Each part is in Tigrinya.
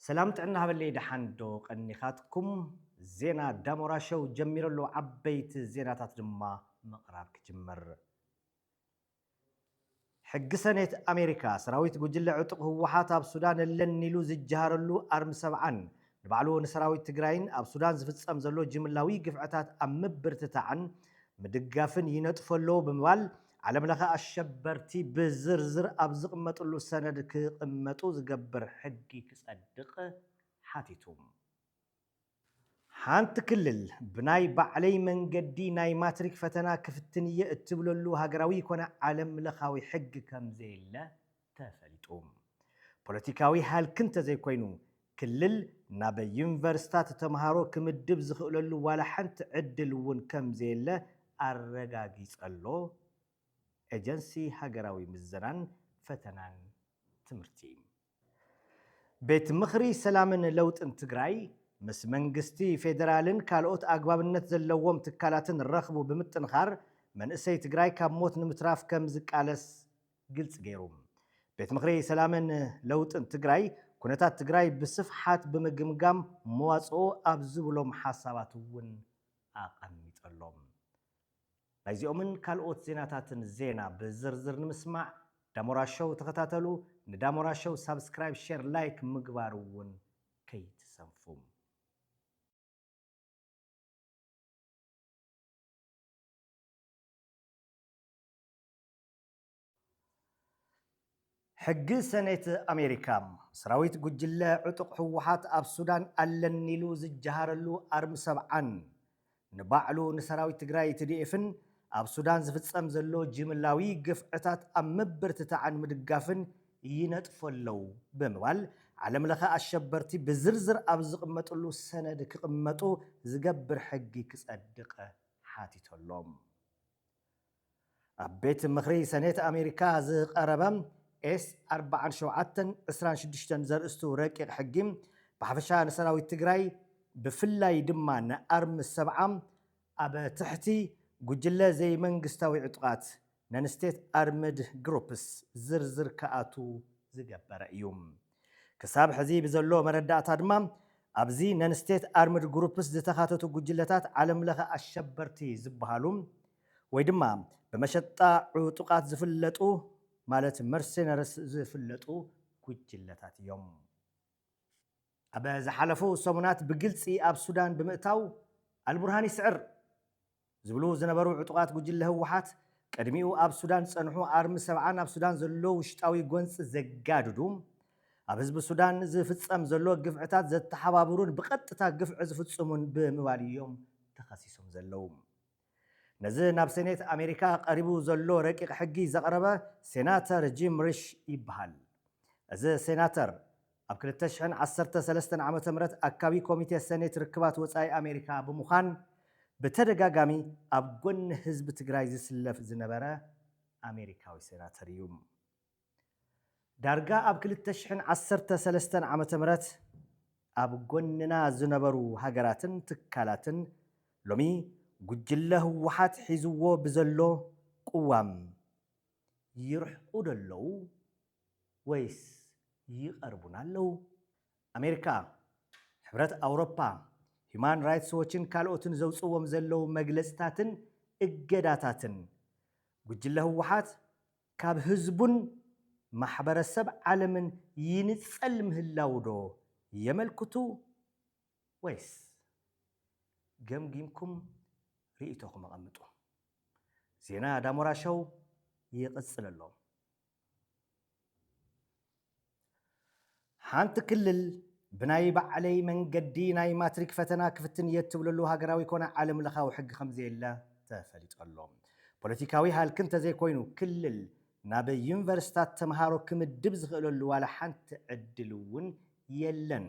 ሰላም ጥዕና ሃበለይ ደሓን ዶ ቀኒኻትኩም ዜና ዳሞራ ሸው ጀሚሩ ኣሎ ዓበይቲ ዜናታት ድማ ምቕራብ ክጅምር። ሕጊ ሰኔት ኣሜሪካ ሰራዊት ጉጅለ ዕጡቕ ህወሓት ኣብ ሱዳን ኣለኒ ኢሉ ዝጀሃረሉ ኣርሚ ሰብዓን ንባዕሉ ንሰራዊት ትግራይን ኣብ ሱዳን ዝፍፀም ዘሎ ጅምላዊ ግፍዕታት ኣብ ምብርትታዕን ምድጋፍን ይነጥፎ ኣሎ ብምባል ዓለምለኸ ኣሸበርቲ ብዝርዝር ኣብ ዝቕመጥሉ ሰነድ ክቕመጡ ዝገብር ሕጊ ክጸድቕ ሓቲቱ። ሓንቲ ክልል ብናይ ባዕለይ መንገዲ ናይ ማትሪክ ፈተና ክፍትን እየ እትብለሉ ሃገራዊ ኮነ ዓለምለኻዊ ሕጊ ከምዘየለ ተፈሊጡ። ፖለቲካዊ ሃልኪ እንተዘይኮይኑ፣ ክልል ናብ ዩኒቨርሲታት ተምሃሮ ክምድብ ዝኽእለሉ ዋላ ሓንቲ ዕድል እውን ከምዘየለ ኣረጋጊጸ'ሎ ኤጀንሲ ሃገራዊ ምዘናን ፈተናን ትምህርቲ። ቤት ምኽሪ ሰላምን ለውጥን ትግራይ፣ ምስ መንግስቲ ፌደራልን ካልኦት ኣግባብነት ዘለዎም ትካላትን ረኽቡ ብምጥንኻር መንእሰይ ትግራይ ካብ ሞት ንምትራፍ ከምዝቃለስ ግልፂ ገይሩ። ቤት ምኽሪ ሰላምን ለውጥን ትግራይ ኩነታት ትግራይ ብስፍሓት ብምግምጋም መዋፅኦ ኣብ ዝብሎም ሓሳባት እውን ኣቐሚጠሎም። ናይዚኦምን ካልኦት ዜናታትን ዜና ብዝርዝር ንምስማዕ ዳሞራ ሾው ተኸታተሉ። ንዳሞራ ሾው ሳብስክራይብ፣ ሼር፣ ላይክ ምግባር እውን ከይትሰንፉ። ሕጊ ሰኔት ኣሜሪካ፣ ሰራዊት ጉጅለ ዕጡቕ ህወሓት ኣብ ሱዳን ኣለኒ ኢሉ ዝጀሃረሉ ኣርሚ ሰብዓን፣ ንባዕሉ ንሰራዊት ትግራይ ትዲኤፍን ኣብ ሱዳን ዝፍፀም ዘሎ ጅምላዊ ግፍዕታት ኣብ ምብርትታዕን ምድጋፍን ይነጥፎ ኣለው ብምባል ዓለም ለኸ ኣሸበርቲ ብዝርዝር ኣብ ዝቕመጥሉ ሰነድ ክቕመጡ ዝገብር ሕጊ ክፀድቕ ሓቲቶ ኣሎ። ኣብ ቤት ምኽሪ ሰኔት ኣሜሪካ ዝቐረበ ኤስ ኣርብዓን ሸውዓተን ዕስራን ሽዱሽተን ዘርእስቱ ረቂቕ ሕጊ ብሓፈሻ ንሰራዊት ትግራይ ብፍላይ ድማ ንኣርሚ ሰብዓ ኣብ ትሕቲ ጉጅለ ዘይመንግስታዊ ዕጡቓት፣ Non-State Armed Groups፣ ዝርዝር ክኣትው ዝገበረ እዩ። ክሳብ ሕዚ ብዘሎ መረዳእታ ድማ ኣብዚ ነን ስቴት ኣርምድ ግሩፕስ ዝተኻተቱ ጉጅለታት ዓለም ለኸ ኣሸበርቲ ዝበሃሉ ወይ ድማ ብመሸጣ ዕጡቓት ዝፍለጡ ማለት መርሴነርስ ዝፍለጡ ጉጅለታት እዮም። ኣብ ዝሓለፉ ሰሙናት ብግልፂ ኣብ ሱዳን ብምእታው ኣልቡርሃን ይስዕር። ዝብሉ ዝነበሩ ዕጡቓት ጉጅለ ህወሓት፣ ቅድሚኡ ኣብ ሱዳን ዝጸንሑ ኣርሚ ሰብዓን ኣብ ሱዳን ዘሎ ውሽጣዊ ጎንጺ ዘጋድዱ፣ ኣብ ህዝቢ ሱዳን ዝፍጸም ዘሎ ግፍዕታት ዘተሓባብሩን ብቐጥታ ግፍዒ ዝፍጽሙን ብምባል'ዮም ተኸሲሶም ዘለዉ። ነዚ ናብ ሴኔት ኣሜሪካ ቀሪቡ ዘሎ ረቂቕ ሕጊ ዘቕረበ ሴናተር ጂም ሪሽ ይበሃል። እዚ ሴናተር፣ ኣብ ክልተ ሽሕን ዓሰርተ ሰለስተን ዓመተ ምህረት ኣካቢ ኮሚቴ ሰኔት ርክባት ወፃኢ ኣሜሪካ ብምዃን ብተደጋጋሚ ኣብ ጎኒ ህዝቢ ትግራይ ዝስለፍ ዝነበረ ኣሜሪካዊ ሴናተር እዩ። ዳርጋ ኣብ ክልተ ሽሕን ዓሰርተ ሰለስተን ዓመተ ምህረት ኣብ ጎንና ዝነበሩ ሃገራትን ትካላትን ሎሚ ጉጅለ ህወሓት ሒዝዎ ብዘሎ ቁዋም ይርሕቁ ዶ ኣለዉ ወይስ ይቐርቡና ኣለዉ? ኣሜሪካ፣ ሕብረት ኣውሮፓ፣ ሂዩማን ራይትስ ዎችን ካልኦትን ዘውጽእዎም ዘለዉ መግለጽታትን እገዳታትን፣ ጉጅለ ህወሓት ካብ ህዝቡን ማሕበረሰብ ዓለምን ይንጸል ምህላዉዶ የመልክቱ? ወይስ? ገምጊምኩም ርእይቶኹም ኣቐምጡ። ዜና ዳሞራ ሸው ይቕጽል ኣሎ። ሓንቲ ክልል ብናይ ባዕለይ መንገዲ ናይ ማትሪክ ፈተና ክፍትን እየ እትብለሉ ሃገራዊ ኮነ ዓለም ለኻዊ ሕጊ ከምዘየለ ተፈሊጡ ኣሎ። ፖለቲካዊ ሃልኪ እንተዘይኮይኑ ክልል ናብ ዩኒቨርስታት ተምሃሮ ክምድብ ዝኽእለሉ ዋላ ሓንቲ ዕድል እውን የለን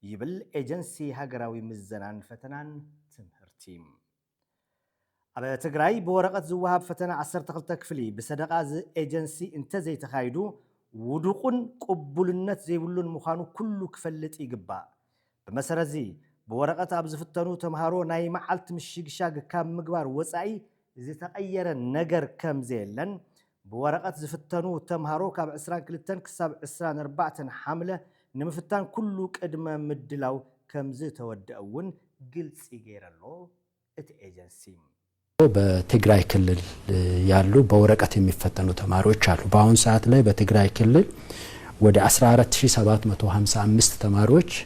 ይብል ኤጀንሲ ሃገራዊ ምዘናን ፈተናን ትምህርቲ። ኣብ ትግራይ ብወረቐት ዝወሃብ ፈተነ ዓሰርተ ክልተ ክፍሊ ብሰደቓ እዚ ኤጀንሲ እንተዘይተኻይዱ ውዱቑን ቅቡልነት ዘይብሉን ምዃኑ ኩሉ ክፈልጥ ይግባእ። ብመሰረትዚ ብወረቐት ኣብ ዝፍተኑ ተምሃሮ ናይ መዓልቲ ምሽግሻግ ካብ ምግባር ወፃኢ ዝተቐየረ ነገር ከምዘየለን ብወረቐት ዝፍተኑ ተምሃሮ ካብ ዕስራን ክልተን ክሳብ ዕስራን ኣርባዕተን ሓምለ ንምፍታን ኩሉ ቅድመ ምድላው ከምዝተወደኣ እውን ግልፂ ገይረ'ሎ እቲ ኤጀንሲ። በትግራይ ክልል ያሉ በወረቀት የሚፈተኑ ተማሪዎች አሉ በአሁን ሰዓት ላይ በትግራይ ክልል ወደ አስራ አራት ሺህ ሰባት መቶ ሀምሳ አምስት ተማሪዎች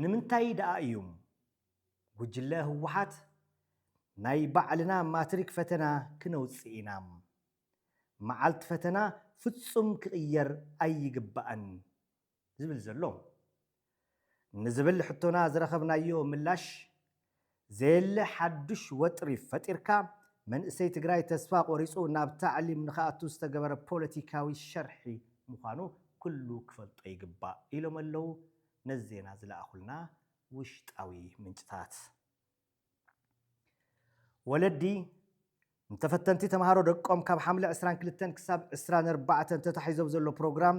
ንምንታይ ደኣ እዩም ጉጅለ ህወሓት ናይ ባዕልና ማትሪክ ፈተና ክነውፅእ ኢና? መዓልቲ ፈተና ፍፁም ክቕየር ኣይግባእን ዝብል ዘሎ? ንዝብል ሕቶና ዝረኸብናዮ ምላሽ ዘየለ ሓዱሽ ወጥሪ ፈጢርካ መንእሰይ ትግራይ ተስፋ ቆሪፁ ናብ ታዕሊም ንክኣቱ ዝተገበረ ፖለቲካዊ ሸርሒ ምዃኑ ኩሉ ክፈልጦ ይግባእ ኢሎም ኣለው ነዚ ዜና ዝለኣኹልና ውሽጣዊ ምንጭታት። ወለዲ ንተፈተንቲ ተምሃሮ ደቆም ካብ ሓምለ ዕስራን ክልተን ክሳብ ዕስራን ኣርባዕተን ተታሒዞብ ዘሎ ፕሮግራም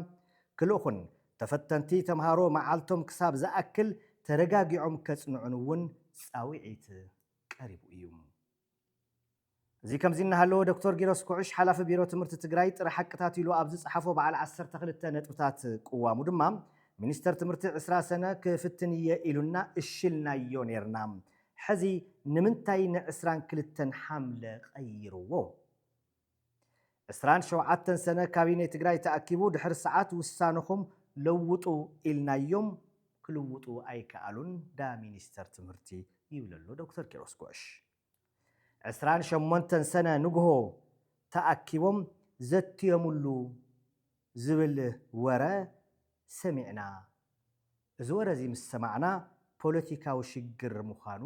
ክልእኹን ተፈተንቲ ተምሃሮ መዓልቶም ክሳብ ዝኣክል ተረጋጊዖም ከፅንዑን እውን ፃውዒት ቀሪቡ እዩ። እዚ ከምዚ እናሃለወ ዶክተር ጊሮስ ኩዕሽ ሓላፊ ቢሮ ትምህርቲ ትግራይ ጥረ ሓቅታት ኢሉ ኣብ ዝፀሓፎ በዓል ዓሰርተ ክልተ ነጥብታት ቅዋሙ ድማ ሚኒስተር ትምህርቲ ዕስራ ሰነ ክፍትን እየ ኢሉና እሺ ኢልናዮ ነይርና ሕዚ ንምንታይ ን ዕስራን ክልተን ሓምለ ቀይርዎ? ዕስራን ሸውዓተን ሰነ ካቢኔ ትግራይ ተኣኪቡ ድሕሪ ሰዓት ውሳነኹም ለውጡ ኢልናዮም ክልውጡ ኣይከኣሉን ዳ ሚኒስተር ትምህርቲ ይብለሎ ዶክተር ኪሮስ ጉዕሽ። ዕስራን ሸሞንተን ሰነ ንጉሆ ተኣኪቦም ዘትዮምሉ ዝብል ወረ ሰሚዕና እዚ ወረ እዚ ምስ ሰማዕና ፖለቲካዊ ሽግር ምዃኑ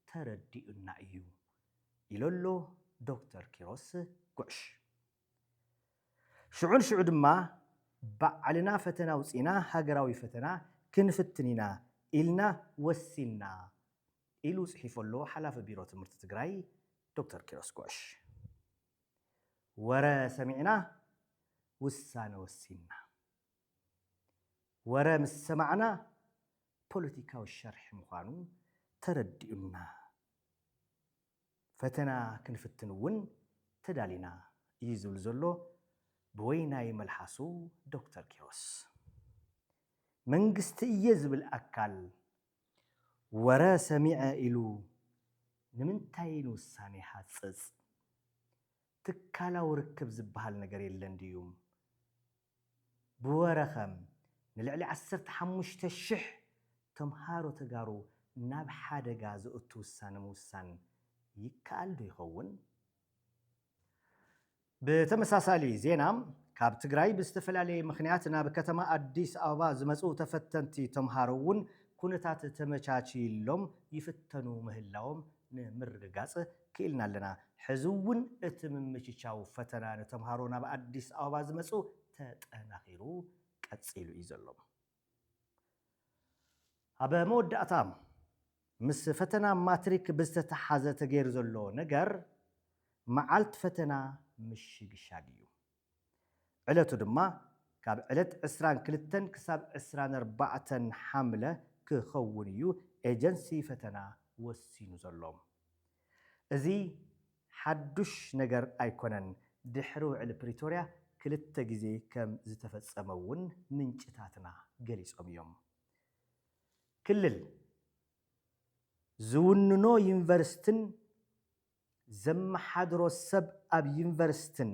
ተረዲኡና እዩ ኢሎ'ሎ ዶክተር ኪሮስ ጉዕሽ። ሽዑ ንሽዑ ድማ ባዕልና ፈተና ኣውጺእና ሃገራዊ ፈተና ክንፍትን ኢና ኢልና ወሲንና ኢሉ ጽሒፉ'ሎ ሓላፊ ቢሮ ትምህርቲ ትግራይ ዶክተር ኪሮስ ጉዕሽ። ወረ ሰሚዕና ውሳነ ወሲንና። ወረ ምስ ሰማዕና ፖለቲካዊ ሸርሒ ምዃኑ ተረዲኡና። ፈተና ክንፍትን እውን ተዳሊና እዩ ዝብል ዘሎ ብወይናይ መልሓሱ ዶክተር ኪሮስ። መንግስቲ እየ ዝብል ኣካል ወረ ሰሚዐ ኢሉ ንምንታይ ንውሳኔ ይሃጽጽ? ትካላዊ ርክብ ዝበሃል ነገር የለን ድዩም ብወረ ከም ንልዕሊ ዓሰርተ ሓሙሽተ ሽሕ ተምሃሮ ተጋሩ ናብ ሓደጋ ዘእቱ ውሳነ ምውሳን ይከኣል ዶ ይኸውን? ብተመሳሳሊ ዜና ካብ ትግራይ ብዝተፈላለየ ምኽንያት ናብ ከተማ ኣዲስ ኣበባ ዝመፅኡ ተፈተንቲ ተምሃሮ እውን ኩነታት ተመቻችይሎም ይፍተኑ ምህላዎም ንምርግጋጽ ክኢልና ኣለና። ሕዚ እውን እቲ ምምችቻው ፈተና ንተምሃሮ ናብ ኣዲስ ኣበባ ዝመጽኡ ተጠናኺሩ ቀጺሉ እዩ ዘሎ። ኣብ መወዳእታ ምስ ፈተና ማትሪክ ብዝተተሓዘ ተገይሩ ዘሎ ነገር መዓልቲ ፈተና ምሽግሻግ እዩ። ዕለቱ ድማ ካብ ዕለት ዕስራን ክልተን ክሳብ ዕስራን ኣርባዕተን ሓምለ ክኸውን እዩ ኤጀንሲ ፈተና ወሲኑ ዘሎ። እዚ ሓዱሽ ነገር ኣይኮነን፣ ድሕሪ ውዕሊ ፕሪቶርያ ክልተ ግዜ ከም ዝተፈጸመ እውን ምንጭታትና ገሊጾም እዮም። ክልል ዝውንኖ ዩኒቨርሲቲን ዘመሓድሮ ሰብ ኣብ ዩኒቨርሲትን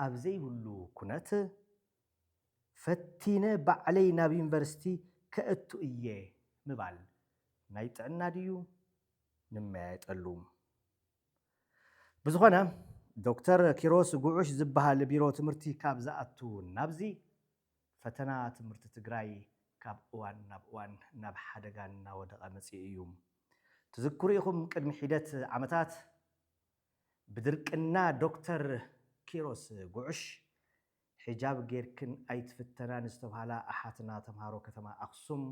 ኣብ ዘይብሉ ኩነት፣ ፈቲነ ባዕለይ ናብ ዩኒቨርሲቲ ከእቱ እየ ምባል ናይ ጥዕና ድዩ? ንመያየጠሉ። ብዝኾነ ዶክተር ኪሮስ ጉዑሽ ዝበሃል ቢሮ ትምህርቲ ካብ ዝኣቱ ናብዚ ፈተና ትምህርቲ ትግራይ ካብ እዋን ናብ እዋን ናብ ሓደጋ እናወደቐ መፂኡ እዩ። ትዝክሩ ኢኹም ቅድሚ ሒደት ዓመታት ብድርቅና ዶክተር ኪሮስ ጉዕሽ ሒጃብ ገይርክን ኣይትፍተናን ዝተብሃላ ኣሓትና ተምሃሮ ከተማ ኣኽሱም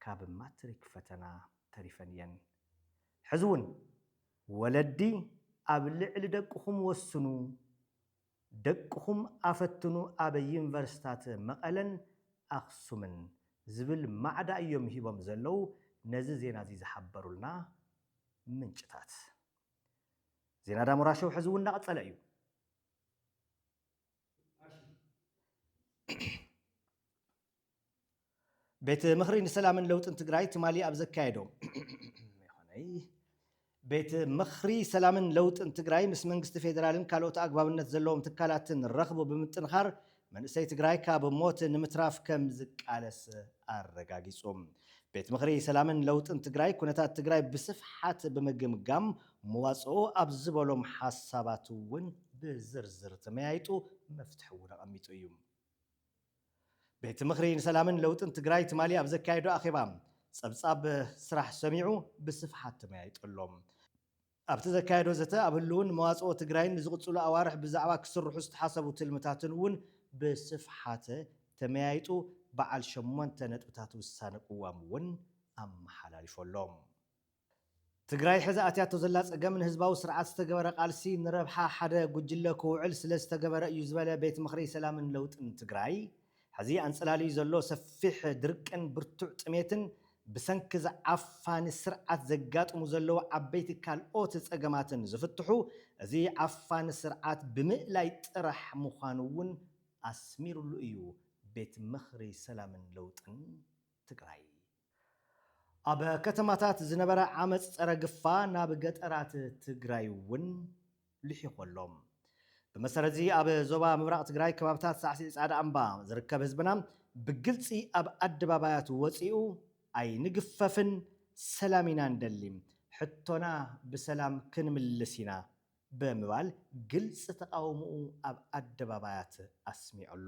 ካብ ማትሪክ ፈተና ተሪፈን እየን። ሕዚ እውን ወለዲ ኣብ ልዕሊ ደቅኹም ወስኑ፣ ደቅኹም ኣፈትኑ ኣብ ዩኒቨርሲታት መቐለን ኣኽሱምን ዝብል ማዕዳ እዮም ሂቦም ዘለዉ ነዚ ዜና እዚ ዝሓበሩልና ምንጭታት። ዜና ዳሞራ ሾው ሕዚ እውን እናቐፀለ እዩ። ቤት ምኽሪ ንሰላምን ለውጥን ትግራይ ትማሊ ኣብ ዘካየዶ ቤት ምኽሪ ሰላምን ለውጥን ትግራይ ምስ መንግስቲ ፌዴራልን ካልኦት ኣግባብነት ዘለዎም ትካላትን ረኽቡ ብምጥንኻር መንእሰይ ትግራይ ካብ ሞት ንምትራፍ ከም ዝቃለስ ኣረጋጊጹ። ቤት ምኽሪ ሰላምን ለውጥን ትግራይ ኩነታት ትግራይ ብስፍሓት ብምግምጋም መዋፅኦ ኣብ ዝበሎም ሓሳባት እውን ብዝርዝር ተመያይጡ መፍትሒ እውን ኣቐሚጡ እዩ። ቤት ምኽሪ ንሰላምን ለውጥን ትግራይ ትማሊ ኣብ ዘካየዶ ኣኼባ ፀብፃብ ስራሕ ሰሚዑ ብስፍሓት ተመያይጡ ኣሎ። ኣብቲ ዘካየዶ ዘተ ኣብ ህልውን መዋፅኦ ትግራይን ንዝቕፅሉ ኣዋርሕ ብዛዕባ ክስርሑ ዝተሓሰቡ ትልምታትን እውን ብስፍሓት ተመያይጡ በዓል ሸሞንተ ነጥብታት ውሳነ ቅዋም እውን ኣመሓላሊፉ ኣሎ። ትግራይ ሕዚ ኣትያቶ ዘላ ፀገም ንህዝባዊ ስርዓት ዝተገበረ ቃልሲ ንረብሓ ሓደ ጉጅለ ክውዕል ስለዝተገበረ እዩ ዝበለ ቤት ምኽሪ ሰላምን ለውጥን ትግራይ፣ ሕዚ ኣንፀላልዩ ዘሎ ሰፊሕ ድርቅን ብርቱዕ ጥሜትን ብሰንኪ እዚ ዓፋኒ ስርዓት ዘጋጥሙ ዘለዉ ዓበይቲ ካልኦት ፀገማትን ዝፍትሑ እዚ ዓፋኒ ስርዓት ብምእላይ ጥራሕ ምዃኑ እውን ኣስሚሩሉ እዩ ቤት ምኽሪ ሰላምን ለውጥን ትግራይ። ኣብ ከተማታት ዝነበረ ዓመፅ ፀረ ግፋ ናብ ገጠራት ትግራይ እውን ልሒኹ ኣሎ። ብመሰረት እዚ ኣብ ዞባ ምብራቕ ትግራይ ከባብታት ሳዕሲዒ ፃዕዳ እምባ ዝርከብ ህዝብና ብግልፂ ኣብ ኣደባባያት ወፂኡ ኣይንግፈፍን ሰላም ኢና ንደሊ ሕቶና ብሰላም ክንምልስ ኢና ብምባል ግልፂ ተቓውምኡ ኣብ ኣደባባያት ኣስሚዑ ኣሎ።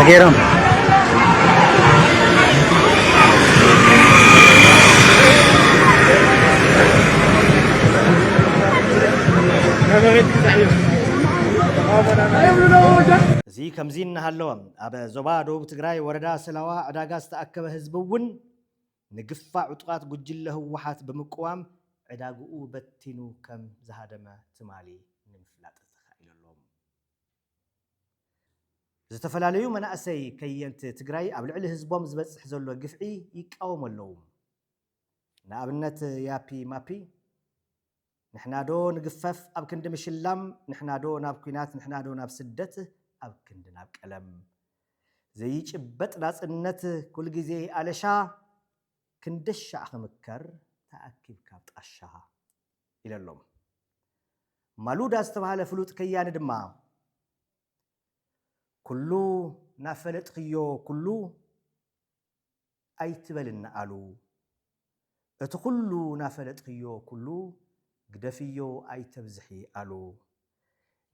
Ageram. እዚ ከምዚ እናሃለወ ኣብ ዞባ ደቡብ ትግራይ ወረዳ ሰላዋ ዕዳጋ ዝተኣከበ ህዝቢ እውን ንግፋ ዕጡቓት ጉጅለ ህወሓት ብምቅዋም ዕዳግኡ በቲኑ ከም ዝሃደመ ትማሊ ንምፍላጥ ተኻኢሉ ኣሎ። ዝተፈላለዩ መናእሰይ ከየንቲ ትግራይ ኣብ ልዕሊ ህዝቦም ዝበፅሕ ዘሎ ግፍዒ ይቃወሙ ኣለዉ። ንኣብነት ያፒ ማፒ፣ ንሕናዶ ንግፈፍ ኣብ ክንዲ ምሽላም ንሕናዶ ናብ ኩናት ንሕናዶ ናብ ስደት ኣብ ክንዲ ናብ ቀለም ዘይጭበጥ ናጽነት ኩል ግዜ ኣለሻ ክንደሻዕ ክምከር ተኣኪብካ ኣብ ጣሻ ኢለሎም። ማሉዳ ዝተባህለ ፍሉጥ ከያኒ ድማ ኩሉ ናፈለጥክዮ ኩሉ ኣይትበልና ኣሉ እቲ ኩሉ ናፈለጥክዮ ኩሉ ግደፍዮ ኣይተብዝሒ ኣሉ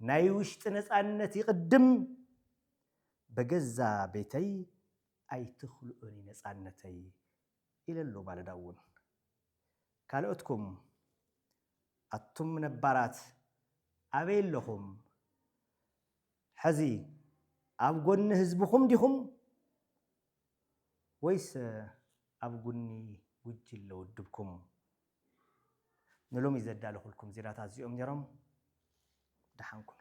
ናይ ውሽጢ ነፃነት ይቅድም በገዛ ቤተይ ኣይትክልኡኒ ነፃነተይ ኢለሉ ማለዳ እውን ካልኦትኩም ኣቱም ነባራት ኣበይ ኣለኹም ሐዚ ኣብ ጎኒ ህዝብኹም ዲኹም ወይስ ኣብ ጉኒ ጉጅለ ውድብኩም? ንሎሚ ዘዳለኹልኩም ዜናታት እዚኦም ነይሮም። ደሓን ኩኑ።